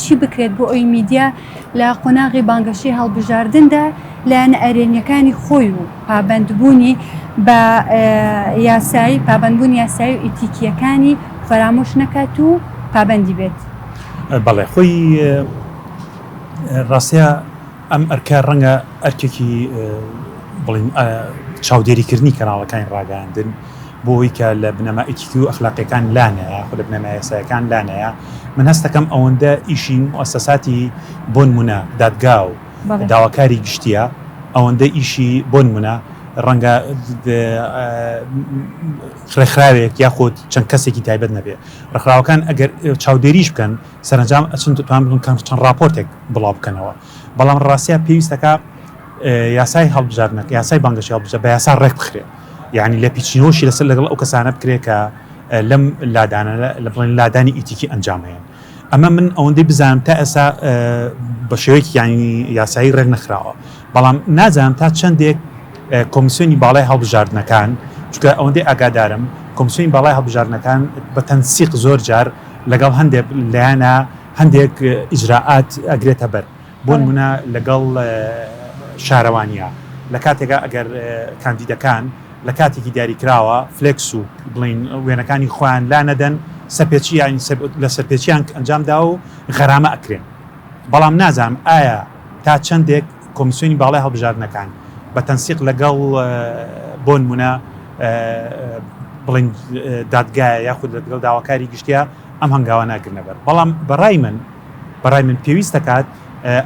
چی بکرێت بۆ ئەوی میدیا لە قۆناغی بانگەشەی هەڵبژاردندا لایەنە ئەرێنیەکانی خۆی و پابەندبوونی بە یاسایی پابەندبوونی یاسایی و ئیتیکییەکانی فەرامۆش نەکات و پابەندی بێت. بەڵێ خۆی ڕاستەیە ئەم ئەرکە ڕەنگە ئەرکێکی بڵین چاودێریکردنی کەناڵەکانی ڕاگەاندن بۆ ئەوی کە لە بنەما ئیتیکی و ئەخلاقیەکان لانەیە خۆ لە بنەما یاسایەکان لانەیە من هەستەکەم ئەوەندە ئیشی موسەساتی بۆن منە دادگاو داواکاری گشتییە ئەوەندە ئیشی بۆ نمونە ڕەنگە ڕێکخراوێک یاخود چەند کەسێکی تایبەت نەبێ ڕخراوەکان ئەگەر چاودێریش بکەن سەرنجام ئەچن توان بن کەم چەند راپۆرتێک بڵاو بکەنەوە بەڵام ڕاستە پێویستەکە یاسای هەڵبژاردنەکە یاسای بانگەشی هەڵبژە بە یاسا ڕێک بخرێ یعنی لە پیچینەوەشی لەسەر لەگەڵ ئەو کەسانە بکرێ کە لەم لادانە لە بڵێن لادانی ئیتیکی ئەنجامەیە ئەمە من ئەوەندەی بزانم تا ئێستا بە شێوەیەکی یانی یاسایی ڕێک نەخراوە بەڵام نازانم تا چەندێک کۆمیسیۆنی باڵای هەڵبژاردنەکان چکە ئەوەندەی ئاگادارم کۆمسیۆنی باڵای هەڵبژاردنەکان بە تەنسیق زۆر جار لەگەڵ هەندێک لایەنە هەندێک ئیجرراعات ئەگرێتە بەر بۆنمونە لەگەڵ شارەوانیە لەکاتێکا ئەگەر کاندیدەکان لەکاتێکی دیاریکراوە فلێکس و بڵین وێنەکانی خۆیان لا نەدەن سەرپێچی یاین لە سەرپێچیان ئەنجام دا و غەرامە ئەکرێن بەڵام نازانم ئایا تا چەندێک کۆمسیۆنی باڵای هەڵبژاردنەکان بە تەنسیق لەگەڵ بۆنمونە بڵین دادگایە یاخود لەگەڵ داواکاری گشتیا ئەم هەنگاوانە ئەگرنەبەر بەڵام بەڕای من بەڕای من پێویست دەکات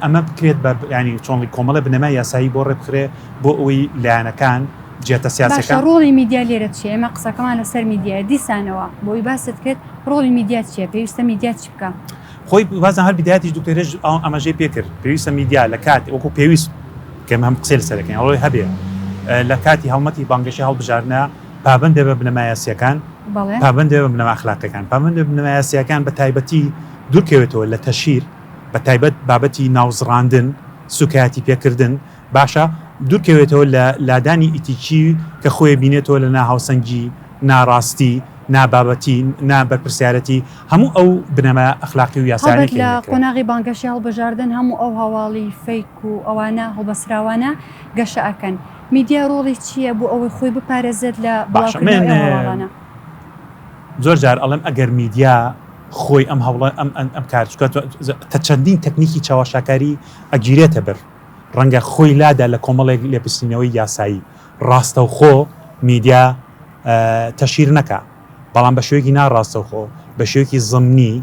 ئەمە بکرێت بە ینی چۆنڵی کۆمەڵە بنەما یاسایی بۆ ڕێبخرێ بۆ ئەوی لایەنەکان جێتە سیاسەکە ڕۆڵی میدیا لێرە چیە ئێمە قسەکەمان لەسەر میدیای دیسانەوە بۆی باست کرد ڕۆڵی میدیا چیە پێویستە میدیا چ بکە خۆی بازە هەر بدایەتی دکتۆرێژ ئەو ئەمەژەی پێکرد پێویستە میدیا لە کات وەکو پێویست کەم هەم قسەل سەرەکەین ئەوەی هەبێ لە کاتی هەڵمەتی بانگەشی هەڵبژارنە پابندێ بە بنەمایاسیەکان پابندێ بە بنەماخلاقەکان پامن بنەمایاسیەکان بە تایبەتی دوورکەوێتەوە لە تەشهیر، بە تایبەت بابەتی ناوزڕاندن، سووکایەتی پێکردن، باشە دوورکەوێتەوە لە لادانی ئیتیکی کە خۆێ بینێتەوە لە ناهاوسەنگی، ناراستی، نابابەتی، نا بەرپرسیارەتی، هەموو ئەو بنەما ئەخلاقی و یاسایانەی هەڵبەت کە لە هێنە کرا. قۆناغی بانگەشەی هەڵبژاردن هەموو ئەو هەواڵی فەیک و ئەوانە هەڵبەسراوانە گەشە ئەکەن. میدیا ڕۆڵی چییە بۆ ئەوەی خۆی بپارێزێت لە بڵاوکردنەوەی ئەو هەواڵانە؟ زۆر جار ئەڵێم ئەگەر میدیا خۆی ئەم هەوڵە ئەم ئەم کار بکات تە چەندین تەکنیکی چاوەشاکاری ئەگیرێتە بەر ڕەنگە خۆی لادا لە کۆمەڵێک لێپرسینەوەی یاسایی ڕاستەوخۆ میدیا تەشیر نەکا بەڵام بە شوێکی ناڕاستەوخۆ بە شوێکی زمنی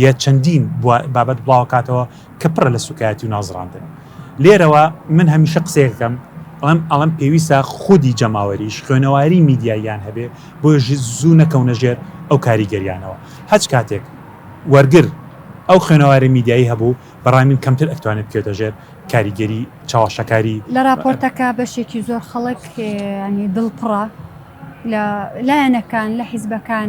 یە چەندین بابەت بڵاوکاتەوە کە پڕە لە سوکایەتی و نازڕاندن لێرەوە من هەمیشە قسەیەکەم ئەڵم ئەڵم پێویستە خودی جەماوەریش خوێنەواری میدیاییان هەبێ بۆ زوو نەکەونە ژێر ئەو کاریگەریانەوە هەچ کاتێک وەرگر ئەو خوێنەواری میدیایی هەبوو بەڕای من کەمتر ئەتوانێت بکەوێتە ژێر کاریگەری چاوەشەکاری لە راپۆرتەکە بەشێکی زۆر خەڵک ینی دڵ پڕە لە لایەنەکان لە حیزبەکان.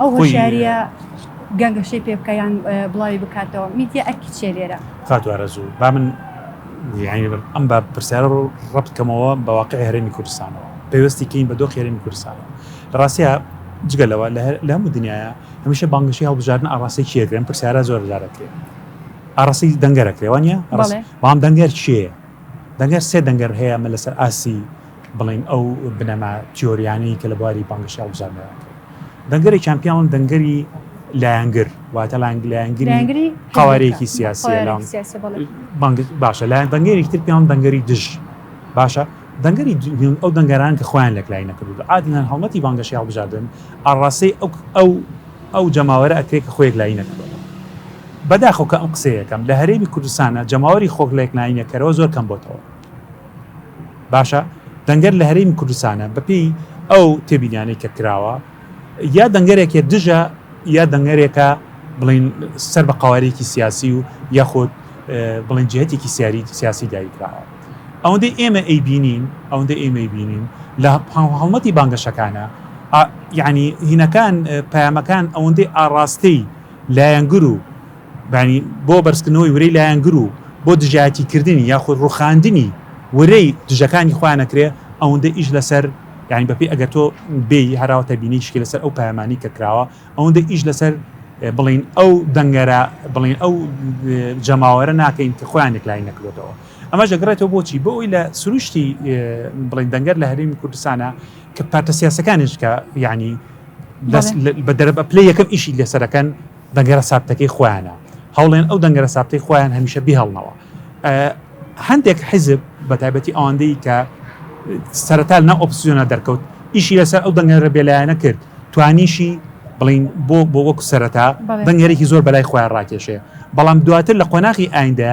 ئەو هۆشیاریە گەنگەشەی پێ بکە یان بڵاوی بکاتەوە میدیا ئەرکی چێ لێرە فاتوارەزوو با من ئەم بە پرسیارە ڕوو ڕبکەمەوە بە واقعی هەرێمی کوردستانەوە پێوەستی کەین بە دۆخ هەرێمی کوردستانەوە لە ڕاستە جگە لەوە لە هەموو دنیاە هەمیشە بانگشی هەڵبژاردن ئاڕاستی چیەکرێن پرسیارە زۆر جارەکرێت ئاڕاستی دەنگەرەکرێوانە بەڵام دەنگەر چیە دەنگەر سێ دەنگەر هەیە من لەسەر ئاسی بڵێین ئەو بنەما تیۆریانەی کە لە بواری بانگەشی هەڵبژاردنەوە دەنگەرێکیان پیاون دەنگەری لایەنگر واتە لایەنگری قوارەیەکی سیاسی باشە لایەن دەنگەرێکی تر پیاون دەنگەری دژ باشە دەنگەری ئەو دەنگەران کە خۆیان لەکلای نەکردو عادیان هەڵمەتی بانگەشی هەڵبژاردن ئاڕاسی ئەو ئەو ئەو جەماوەرە ئەکرێت کە خۆیەک لای نەکردەوە بەداخۆکە ئەم قسەیەکەم لە هەرێمی کوردستانە جەماوەری خۆک لەکناینەکەرەوە زۆر کەم بۆتەوە باشە دەنگەر لە هەریم کوردستانە بەپێی ئەو تێبینیانەی کە کراوە یا دەنگەرێکێ دژە یا دەنگەرێکە بڵین سەر بە قوارێکی سیاسی و یاخود بڵین جهتێکی سیاری سیاسی دایکراوە ئەوەندەی ئێمە ئەی بینین ئەوەندە ئێمەی بینین لە هەڵمەتی بانگەشەکانە یعنی هینەکان پامەکان ئەوەندەی ئاڕاستەی لایەنگر و بەیانی بۆ بەرزکردنەوەی ورەی لایەنگر و بۆ دژایەتیکردنی یاخود ڕوخاندنی ورەی دژەکانی خۆیان ئەکرێ ئەوەندە ئیش لەسەر یانی بەپی ئەگەر تۆ بێی هەراوە تەبینی شکی لەسەر ئەو پایمانی کە کراوە ئەوەندە ئیش لەسەر بڵین ئەو دەنگەرە بڵین ئەو جەماوەرە ناکەین کە خۆیان یەکلای نەکرێتەوە ئەمە ژەگرێتەوە بۆچی بۆ ئەوی لە سروشتی بڵین دەنگەر لە هەرێمی کوردستانە کە پارتە سیاسەکانش کە یعنی بە دەرب پلی یەکەم ئیشی لەسەرەکەن دەنگەرە سابتەکەی خۆیانە هەوڵێن ئەو دەنگەرە سابتەی خۆیان هەمیشە بیهڵنەوە هەندێک حیزب بە تایبەتی ئەوەندەی کە سەرەتا ناو ئۆپسیۆنە دەرکەوت ئیشی لەسەر ئەو دەنگەرە بێلایەنە کرد توانیشی بڵین بۆ بۆ وەکو سەرەتا دەنگەرێکی زۆر بەلای خۆیان ڕاکێشێ بەڵام دواتر لە قۆناغی ئایندە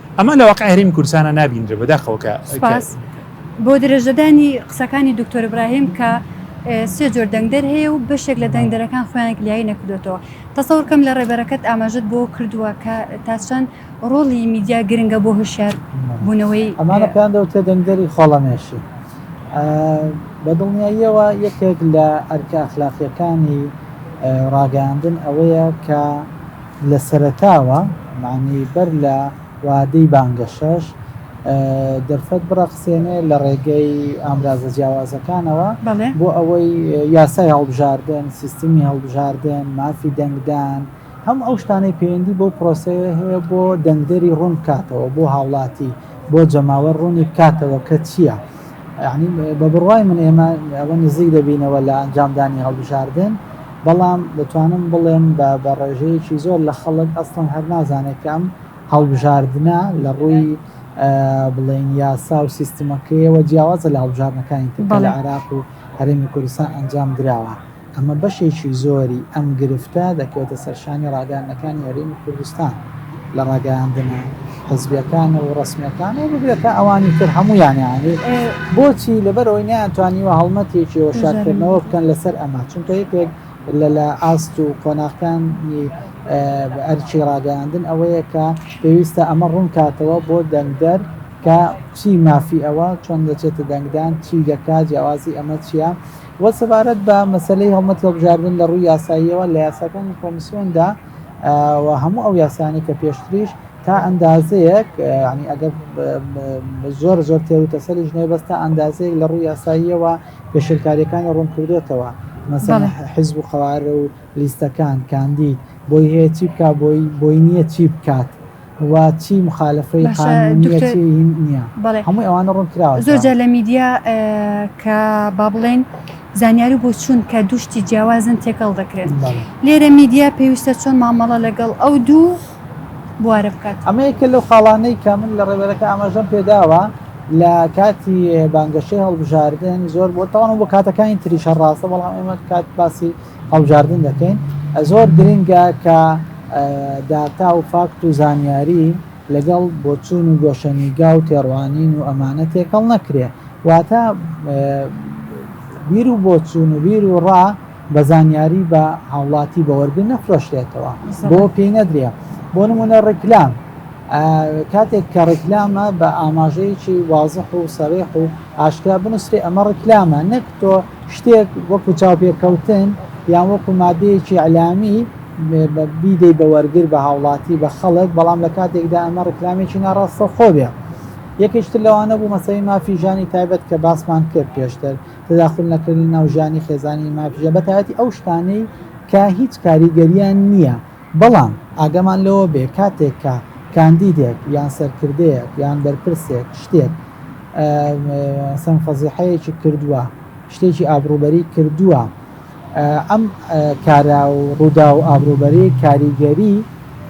ئەمە لە واقعی هەرێمی کوردستانا نابینرێ بەداخەوە کە سوپاس بۆ درێژەدانی قسەکانی دکتۆر ابراهیم کە سێ جۆر دەنگدەر هەیە و بەشێک لە دەنگدەرەکان خۆیان کلیایی نەکردوێتەوە تەسەورکەم لە ڕێبەرەکەت ئاماژت بۆ کردووە کە تا چەند ڕۆڵی میدیا گرنگە بۆ هوشار بوونەوەی ئەمانە پێیان دەوتە دەنگدەری خۆڵەمێشی بە دڵنیاییەوە یەکێک لە ئەرکە ئەخلاقیەکانی ڕاگەاندن ئەوەیە کە لە سەرەتاوە مەعنەی بەر لە وادەی بانگەشەش دەرفەت بڕەخسێنێ لە ڕێگەی ئامرازە جیاوازەکانەوە بەڵێ. بۆ ئەوەی یاسای هەڵبژاردن، سیستمی هەڵبژاردن، مافی دەنگدان، هەموو ئەو شتانەی پەیوەندی بەو پرۆسەیە هەیە بۆ دەنگدەری ڕوون بکاتەوە، بۆ هاوڵاتی، بۆ جەماوەر ڕوونی بکاتەوە کە چییە. یەعنی بە بڕوای من ئێمە ئەوە نزیک دەبینەوە لە ئەنجامدانی هەڵبژاردن بەڵام دەتوانم بڵێم بە بە ڕێژەیەکی زۆر لە خەڵک ئەسڵەن هەر نازانێت کە ئەم هەڵبژاردنە لە ڕووی بڵێن یاسا و سیستمەکەیەوە جیاوازە لە هەڵبژاردنەکانی تر کە لە عێراق و هەرێمی کوردستان ئەنجام دراوە. ئەمە بەشێکی زۆری ئەم گرفتە دەکەوێتە سەرشانی ڕاگەیاندنەکانی هەرێمی کوردستان لە ڕاگەیاندنە حزبیەکان و ڕسمیەکان و بگرە تا ئەوانی تر هەموویانیانی بۆچی لەبەرەوەی نەیانتوانیوە هەڵمەتێکیەوە شارکردنەوە بکەن لەسەر ئەمە چونکە یەکێک لە لە ئاست و قۆناغکانی ئەرچی ڕاگەیاندن ئەوەیە کە پێویستە ئەمە ڕوونکاتەوە بۆ دەنگدەر کە چی مافی ئەوە چۆن دەچێتە دەنگدان چی دەکات جیاوازی ئەمە چییە؟ وە سەبارەت بە مەسەلەی هەڵمەتی هەڵبژاردن لە ڕووی یاساییەوە لە یاساکانی کۆمیسیۆندا و هەموو ئەو یاسانەی کە پێشتریش تا ئەندازەیەک ینی ئەگەر زۆر زۆر تێروتەسەریش نەیە بەس تا ئەندازەیەک لە ڕووی یاساییەوە پێشلکاریەکانی ڕوون کردوێتەوە مەسەن حزب و قوارە و لیستەکان کاندید بۆی هەیە چی بک بۆی بۆی نییە چی بکات وا چی مخالەفەی قانونیە چی نیە هەمووی ئەوانە ڕوون کراوە زۆرجار لە میدیا کە با بڵێن زانیاری بۆ چوون کە دوشتی جیاوازن تێکەڵ دەکرێن لێرە میدیا پێویستە چۆن مامەڵە لەگەڵ ئەو دوو بوارە بکات ئەمەیەکە لەو خاڵانەی کە من لە ڕێبەرەکە ئاماژەم پێداوە لە کاتی بانگەشەی هەڵبژاردن زۆر بۆ تاوان بۆ کاتەکانی تریشە ڕاستە بەڵام ئێمە کات باسی هەڵبژاردن دەکەین زۆر گرنگە کە داتا و فاکت و زانیاری لەگەڵ بۆچوون و گۆشەنیگا و تێڕوانین و ئەمانە تێکەڵ نەکرێ واتە بیر و بۆچوون و بیر و ڕا بە زانیاری بە هاوڵاتی بەوەرگن نەفرۆشرێتەوە بۆ پێی نەدرێ بۆ نمونە ڕیکلام کاتێک کە ڕیکلامە بە ئاماژەیەکی وازح و سەرێح و ئاشکرا بنووسێ ئەمە ڕیکلامە نەک تۆ شتێک وەکو چاوپێکەوتن یان وەکو مادەیەکی ئیلامی بیدەی بە وەرگر بە هاوڵاتی بە خەڵک بەڵام لە کاتێکدا ئەمە ڕکلامێکی ناڕاستە خۆبێ یەکێکتر لەوانە بوو مەسەی مافی ژانی تایبەت کە باسمان کرد پێشتر تداخل نەکردنی ناوژانی خێزانی مافژە بەتایەتی ئەو شتانەی کە هیچ کاریگەریان نییە بەڵام ئاگامان لەوە بێ کاتێک کە کاندیدێک یان سەرکردەیەک یان بەرپرسێک شتێک سەن فەزیحەیەکی کردووە شتێکی ئابروبەری کردووە ئەم کارا و ڕوودا و ئابروبەری کاریگەری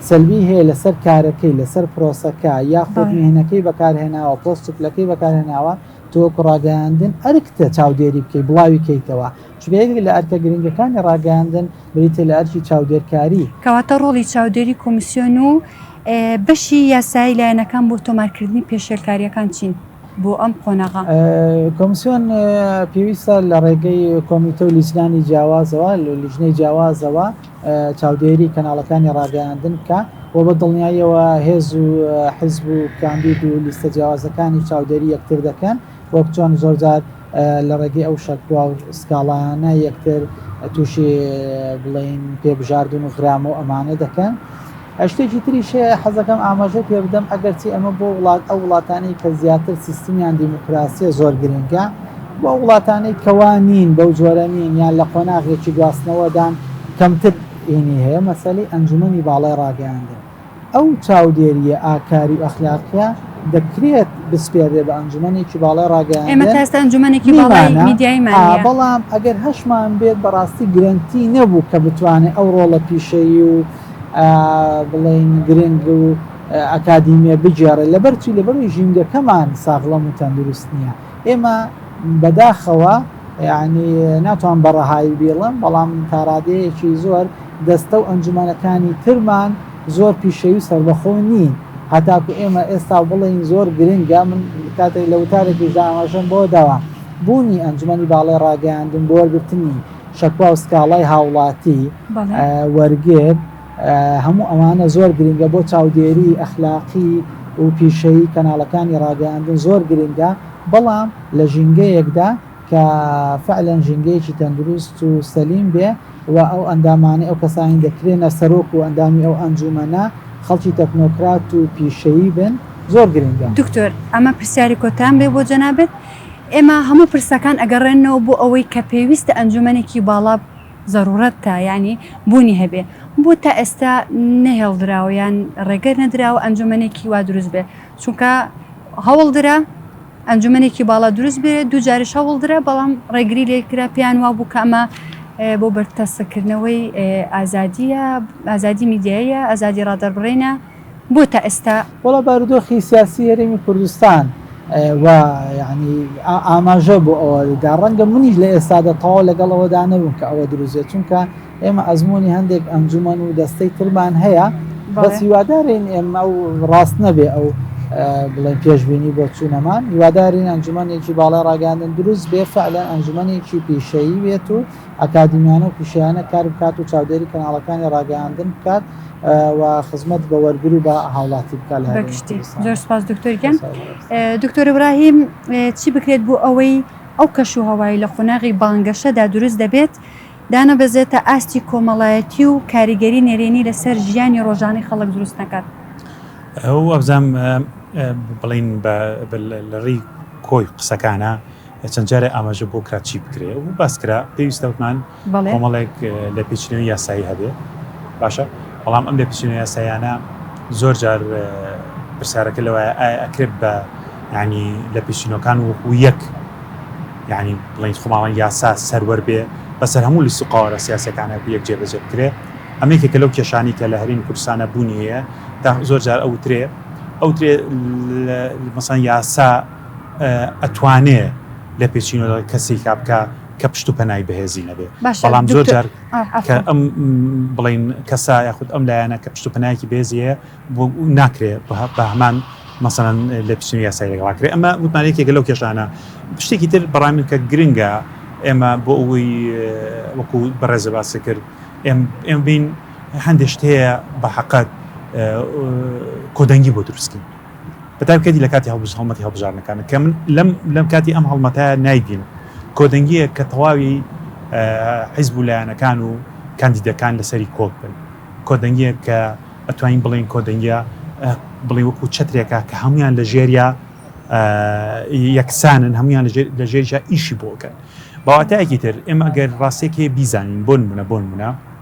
سەلبی هەیە لەسەر کارەکەی لەسەر پرۆسەکە یاخود مهنەکەی بەکارهێناوە پۆست پلەکەی بەکارهێناوە تۆ کوڕاگەیاندن ئەرکتە چاودێری بکەیت بڵاوی کەیتەوە چونکە یەکێک لە ئەرکە گرنگەکانی ڕاگەیاندن بریتییە لە ئەرکی چاودێرکاری. کەواتە ڕۆڵی چاودێری کۆمیسیۆن و بەشی یاسایی لایەنەکان بۆ تۆمارکردنی پێشێلکارییەکان چین بۆ ئەم قۆناغە؟ کۆمیسیۆن پێویستە لە ڕێگەی کۆمیتە و لیژنانی جیاوازەوە لە لیژنەی جیاوازەوە چاودێری کەناڵەکانی ڕاگەیاندن بکە و بە دڵنیاییەوە هێز و حیزب و کاندید و لیستە جیاوازەکانی چاودێری یەکتر دەکەن وەک چۆن زۆرجار لە ڕێگەی ئەو شەکوا و سکاڵایانە یەکتر تووشی بڵین پێ بژاردن و غرام و ئەمانە دەکەن شتێکی تریش حەزەکەم ئاماژە پێ بدەم ئەگەرچی ئەمە بۆ وڵات ئەو وڵاتانی کە زیاتر سیستمیان دیموکراسیە زۆر گرنگە بۆ وڵاتانی کەوانین بەو جۆرە نین یان لە قۆناغێکی گواستنەوەدان کەمتر ئینی هەیە مەسەلی ئەنجومی باڵای ڕاگەیاندن ئەو چاودێرییە ئاکاری و ئەخلاقییە دەکرێت بسپێردرێت بە ئەنجومەنێکی باڵای ڕاگەیاندن، ئێمە تا ئێستا ئەنجومەنێکی باڵای میدیایمان نییە، بەڵام ئەگەر هەشمان بێت بەڕاستی گرەنتی نەبوو کە بتوانێت ئەو ڕۆڵە پیشەیی و بڵێین گرنگ و ئەکادیمییە بگێڕێت، لەبەرچی؟ لەبەرئەوەی ژینگەکەمان ساغڵەم و تەندروست نییە. ئێمە بەداخەوە یانی ناتوان بە ڕەهایی بیڵم بەڵام تاڕادەیەکی زۆر دەستە و ئەنجومەنەکانی ترمان زۆر پیشەوی و سربەخۆ نین هەتاکو ئێمە ئێستا بڵین زۆر گرنگە من کاتێک لە وتارێکی داماژەم بۆ داوا بوونی ئەنجومەنی باڵێ ڕاگەیاندن بۆ وەرگرتنی شەکوا و سکاڵای هاوڵاتی وەرگر هەموو ئەوانە زۆر گرنگە بۆ چاودێری ئەخلاقی و پیشەیی کەناڵەکانی ڕاگەیاندن زۆر گرنگە بەڵام لە ژینگەیەکدا کە فعلەن ژینگەیەکی تەندروست و سەلیم بێ و ئەو ئەندامانەی ئەو کەسانی دەکرێنە سەرۆک و ئەندامی ئەو ئەنجومەنە خەڵکی تەکنۆکرات و پیشەیی بن زۆر گرنگە. دکتۆر ئەمە پرسیاری کۆتام بێ بۆ جەنابت ئێمە هەموو پرسەکان ئەگەڕێنەوە بۆ ئەوەی کە پێویستە ئەنجومەنێکی باڵا زەروورەت تا یانی بوونی هەبێ، بۆ تا ئێستا نەهێڵدراوە یان ڕێگە نەدراوە ئەنجوومەنێکی وا دروست بێ، چونکە هەوڵ درا ئەنجوومەنێکی باڵا دروست بێ، دوو جاریش هەوڵ درا بەڵام ڕێگری لێ کرا، پێیان وا بوو کە ئەمە بۆ بەرتەسککردنەوەی ئازادییە، ئازادی میدیاییە، ئازادی ڕادەربڕینە. بۆ تا ئێستا؟ وەڵا بارودۆخی سیاسی هەرێمی کوردستان و یانی ئاماژە بۆ ئەوە دا ڕەنگە منیش لە ئێستادا تەواو لەگەڵ ئەوەدا نەبووم کە ئەوە دروزێت چونکە ئێمە ئەزمموی هەندێک ئەنجومەن و دەستەی ترمان هەیە بەس هیوادارین ئێمە و ڕاست نەبێ ئەو بڵێن پێشببینی بۆ چوونەمان هیوادارین ئەنجومەنێکی باڵای ڕاگەاندن دروست بێ فعلەن ئەنجومەنێکی پیشەیی بێت و ئەکادیمیانە و پیشەیانە کار بکات و چاودێری کەناڵەکانی ڕاگەیاندن بکات و خزمەت بە وەرگر و بە هاوڵاتی بکات لە هەرێمی بەگشتی کوردستان. زۆر سپاس دکتۆر گیان سپاس بۆ ئێوەش. دکتۆر ابراهیم چی بکرێت بۆ ئەوەی ئەو کەش و هەوای لە قۆناغی بانگەشەدا دروست دەبێت دانەبەزێتە ئاستی کۆمەڵایەتی و کاریگەری نەرێنی لەسەر ژیانی ڕۆژانەی خەڵک دروست نەکات؟ وابزانم بڵێین بە لە ڕێی کۆی قسەکانا، چەند جارێ ئاماژە بۆ کرا چی بکرێ و باس کرا پێویستە وتمان کۆمەڵێک لە پێچینەوەی یاسایی هەبێ باشە بەڵام ئەم لە پێچینە یاسایانە زۆر جار پرسیارەکە لەوەیە ئایا ئەکرێت بە ینی لە پێچینەکان وەکو یەک ینی بڵین خۆماڵان یاسا سەروەر بێ بەسەر هەموو لیست و قاوارە سیاسەکانە یەک جێبەجێ بکرێ ئەمێکێکە لەو کێشانی کە لە هەرین کوردستانە بوونی هەیە تا زۆر جار ئەوترێ ئەوترێ مەسان یاسا ئەتوانێ لە پێچینەوە کەسێک کا بکە کە پشت و پەنای بەهێزی نەبێ بەڵام زۆر جار کە ئەم بڵین کەسا یاخود ئەم لایەنە کە پشت و پەنایکی بێزیە بۆ ناکرێ بە هەمان مەسەن لە پشتنی یاسای لەگەڵاکرێ ئەمە وتمانێکێکە لەو کێشانە شتێکی تر بەڕامین کە گرنگە ئێمە بۆ ئەوی وەکو بەڕێزە باسی کرد ئێم بین هەندێک شت هەیە بە حقت کۆدەنگی بۆ دروستکەین بە تایبکەتی لە کاتی هەڵبژ هەڵمەتی هەڵبژاردنەکانە کە من لەم لەم کاتی ئەم هەڵمەتایە نایبینم کۆدەنگیە کە تەواوی حیزب و لایەنەکان و کاندیدەکان لەسەری کۆک بن کۆدەنگیە کە ئەتوانین بڵین کۆدەنگە بڵێ وەکو چترێکە کە هەمویان لە ژێریا یەکسانن هەمویان لە ژێرجا ئیشی بۆکەن بەواتایەکی تر ئێمە ئەگەر ڕاستێکی بیزانین بۆن منە بۆن منە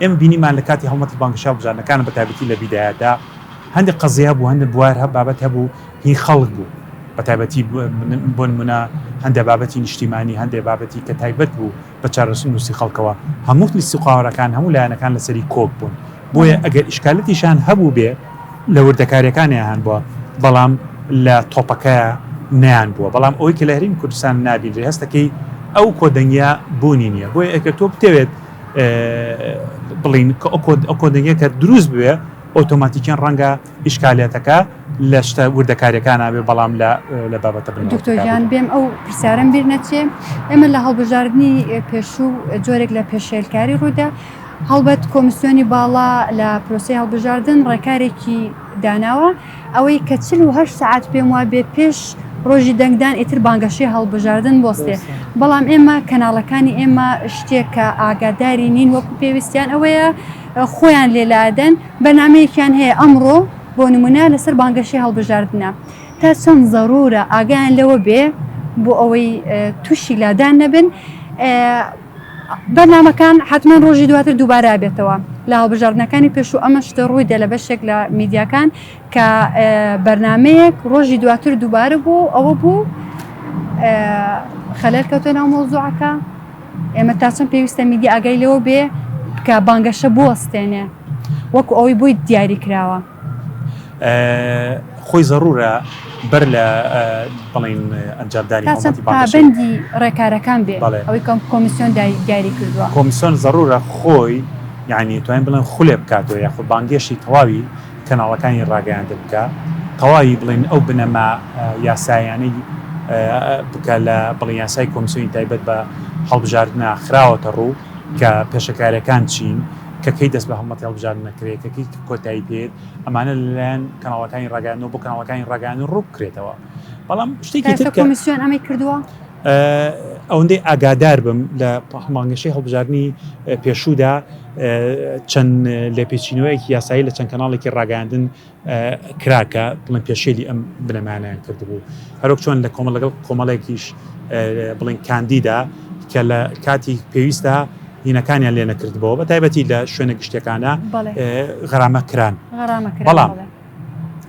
ئێمە بینیمان لە کاتی هەڵمەتی بانگەشە هەڵبژاردنەکانە بە تایبەتی لە بیدایەتدا هەندێک قەزیە هەبوو هەندێک بوار هە بابەت هەبوو هی خەڵک بوو بە تایبەتی بۆ نمونە هەندێک بابەتی نیشتیمانی هەندێک بابەتی کە تایبەت بوو بە چارەسوو نووسی خەڵکەوە هەموو لیستی و قاوەرەکان هەموو لایەنەکان لەسەری کۆک بوون بۆیە ئەگەر ئیشکالەتیشان هەبوو بێ لە وردەکاریەکانیان بووە بەڵام لە تۆپەکە نیان بووە بەڵام ئەوەی کە لە هەریم کوردستان نابینرێ هەستەکەی ئەو کۆدەنگیا بوونی نییە بۆیە ئەگەر تۆ بتەوێت بڵین کە ئۆ کۆدنگە کە دروست بوێ ئۆتۆماتیکیان ڕەنگە ئیشکالەتەکە لە شتە وردەکاریەکان نابێ بەڵام لە بابەتە دکتۆریان بێم ئەو پرسیارم بیر نەچێ ئێمە لە هەڵبژاردننی پێشوو جۆرێک لە پێشێلکاری ڕوودا هەڵبەت کۆمسیۆنی باڵا لە پرۆسی هەڵبژاردن ڕێکارێکی داناوە ئەوەی کە چل و هەشت سەعات پێم وابێ پێش ڕۆژی دەنگدان ئیتر بانگەشەی هەڵبژاردن بۆستێ بەڵام ئێمە کەناڵەکانی ئێمە شتێک کە ئاگاداری نین وەکو پێویستیان ئەوەیە خۆیان لێلادەن بەنامەیەکیان هەیە ئەمڕۆ بۆ نمونە لەسەر بانگەشەی هەڵبژاردنە تا چەند زەرورە ئاگیان لەوە بێ بۆ ئەوەی تووشی لادان نەبن بەرنامەکان حەتمەن ڕۆژی دواتر دووبارە ئەبێتەوە لە هەڵبژاردنەکانی پێشوو ئەمە شتە ڕووی دێ لە بەشێک لە میدیاکان کە بەرنمەیەک ڕۆژی دواتر دووبارە بوو ئەوە بوو خەلەر کەوتە ناو مۆزوعەکە ئێمە تا چەند پێویستە میدی ئاگای لەوە بێ کە بانگەشە بوەستێنێ وەکو ئەوەی بووی دیاری کراوە خۆی زەرورە بەر لە بڵین ئەنجامدانی پابندی ڕێکارەکان بێ ئەوەی کەم کۆمیسیۆن دیاری کردووە کۆمیسیۆن زەرورە خۆی یعنی توانین بڵێن خولێ بکاتەوە یاخۆ بانگێشی تەواوی کەناڵەکانی ڕاگەیاندە بکە تەواوی بڵین ئەو بنەما یاسایانەی بکە لە بڵی یاسای کۆمسیۆنی تایبەت بە هەڵبژاردنە خراوەتە ڕوو کە پێشەکارەکان چین، کە کەی دەست بە هەڵمەتی هەڵبژاردن دەکرێت، کە کەی کۆتایی پێیەت، ئەمانە لەلایەن کەناڵەکانی ڕاگەیاندنەوە بۆ کەناڵەکانی ڕاگەیاندن ڕوو بکرێتەوە. بەڵام شتێکی تر کە کۆمیسیۆن ئەمەی کردووە؟ ئەوەندەی ئاگادار بم لە مانگەشەی هەڵبژاردنی پێشوودا چەند لێپێچینەوەیەکی یاسایی لە چەند کەناڵێکی ڕاگەیاندن کرا کە بڵێن پێشێلی ئەم بنەمایانەیان کردبوو هەرۆک چۆن لە کۆمەڵ لەگەڵ کۆمەڵێکیش بڵین کاندیدا کە لە کاتی پێویستدا هینەکانیان لێ نەکردبەوە بە تایبەتی لە شوێنە گشتەکانە غەرامە کران بەڵام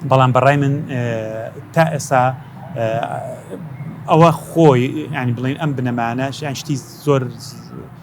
بەڵام بەڕای من تا ئێسا ئەوە خۆی ینی بڵین ئەم بنەمانە شتی زۆر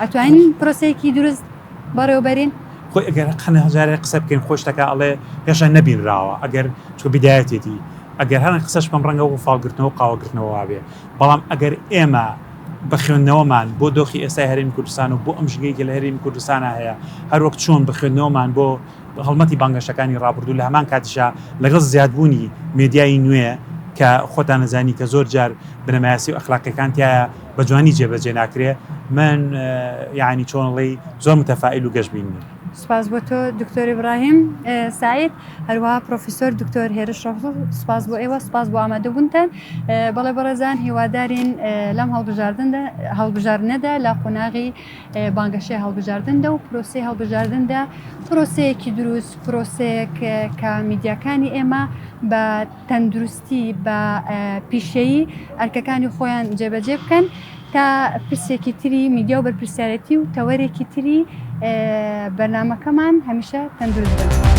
ئەتوانین پرۆسەیەکی دروست بەڕێوەبەرین خۆی ئەگەر قەنە هەزارێ قسە بکەین خۆشتەکە ئەڵێ هێشە نەبینراوە ئەگەر تۆ بدایەتێتی ئەگەر هەرن قسەش بەم ڕەنگە و فاڵگرتنەوە قاوەگرتنەوە وابێ بەڵام ئەگەر ئێمە بە خوێندنەوەمان بۆ دۆخی ئێستای هەرێمی کوردستان و بۆ ئەم ژنگەیەکی لە هەرێمی کوردستانە هەیە هەروەک چۆن بە خوێندنەوەمان بۆ هەڵمەتی بانگەشەکانی ڕابردوو لە هەمان کاتیشا لەگەڵ زیادبوونی مدیایی نوێ کە خۆتان نەزانی کە زۆر جار بنەمایەسی و ئەخلاقیەکان تایە بە جوانی جێ بەجێ ناکرێ من یعنی چۆنڵی زۆر متەفائیل و گەشت بینی. سپاس بۆ تۆ دکتۆر ئبراهیم سعید هەروە پرۆفیسۆر دکتۆر هێرش ڕۆ سپاس بۆ ئێوە سپاس بۆ ئامادەبوونتان بەڵێ بەڕێزان هیوادارین لەم هەڵبژاردن هەڵبژاردنەدا لە قۆناغی بانگەشێ هەڵبژاردندا و پرۆسی هەڵبژاردندا پرۆسەیەکی دروست پرۆسەیەک کە میدیاکانی ئێمە بە تەندروست پێویستی بە پیشەیی ئەرکەکانی خۆیان جێبەجێ بکەن تا پرسێکی تری میدیا و بەرپرسیارەتی و تەوەرێکی تری بەرنمەکەمان هەمیشە تەندروست بن.